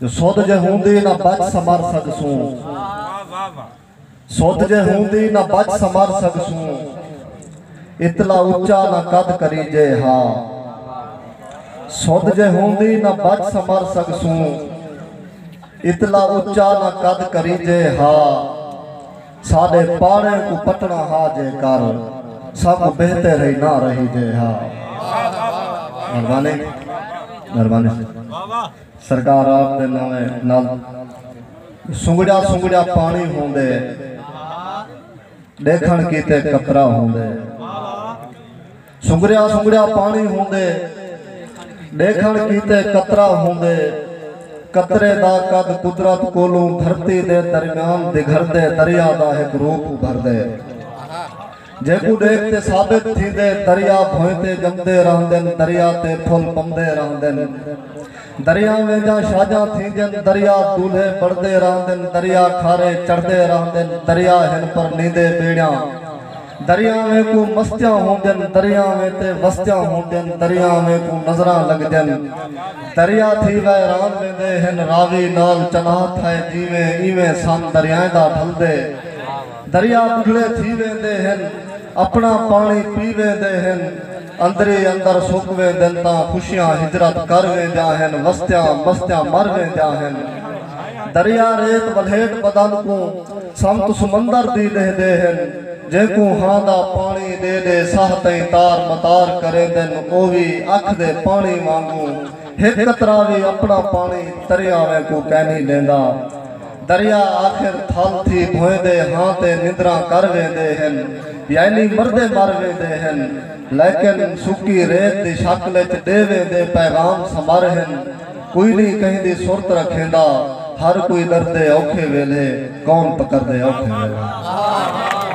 جو سدھ جے ہوندی نہ بچ سمر سڳسوں۔ سدھ جے ہوندی نہ بچ سمر سڳسوں۔ اتلا اچا نہ قد کریجے ہا۔ سدھ جے ہوندی نہ بچ سمر سڳسوں۔ اتلا اچا نہ قد کریجے ہا۔ ساݙے پاڑیں کوں پٹݨا ہا جے کر۔ ساکوں بہتر ہئی نہ رہیجے ہا۔ مہربانی مہربانی۔ سرکار آپ دے ناویں نال سنگڑیا سنگڑیا پاݨی ہوندے ݙیکھݨ کیتے قطرہ ہوندے سنگڑیا سنگڑیا پاݨی ہوندے ݙیکھݨ کیتے قطرہ ہوندے قطرے دا قد قدرت کولوں دھرتی دے درمیان دگھردے دریا دا ہک روپ ابھردے جیکوں ݙیکھ تے ثابت تھیندے دریا بھوئیں تے ڄمدے رہندن دریا تے پھل پمدے رہندن دریاں وینجاں شاجاں تھیندین دریا دولھے بݨدے رہندن دریا کھارے چڑھدے رہندن دریا ہن پر نیندے ٻیڑیاں دریاویں کوں مستیاں ہوندین دریاویں تے وستیاں ہوندین دریاویں کوں نظراں لڳدین دریا تھی ویران ویندے ہن راوی نال چناہ تھئے جیویں ایویں سن دریائیں دا ڈھلدے دریا بگھلے تھی ویندے ہن اپنا پانی پی ویندے ہن اندری اندر سک ویندن تاں خوشیاں ہجرت کر ویندیاں ہن وستیاں مستیاں مر ویندیاں ہن دریا ریت ولھیٹ بدن کوں سمت سمندر دی ݙیہدے ہن جینکوں ہاں دا پانی ݙے ݙے ساہ تئیں تار متار کریندن او وی اکھ دے پانی وانگوں ہک قطرہ وی اپنا پانی تریاویں کوں کینھی ݙیندا۔ دریا آخر تھل تھی بھویندے ہاں تے نندراں کر ویندے ہن یعنی مردے مر ویندے ہن لیکن سکی ریت دی شکل اچ ڈے ویندے پیغام سمر ہن کوئی نی کہندی سرت رکھیندا ہر کوئی ڈردے اوکھے ویلھے کون پکردے اوکھے ویلھے۔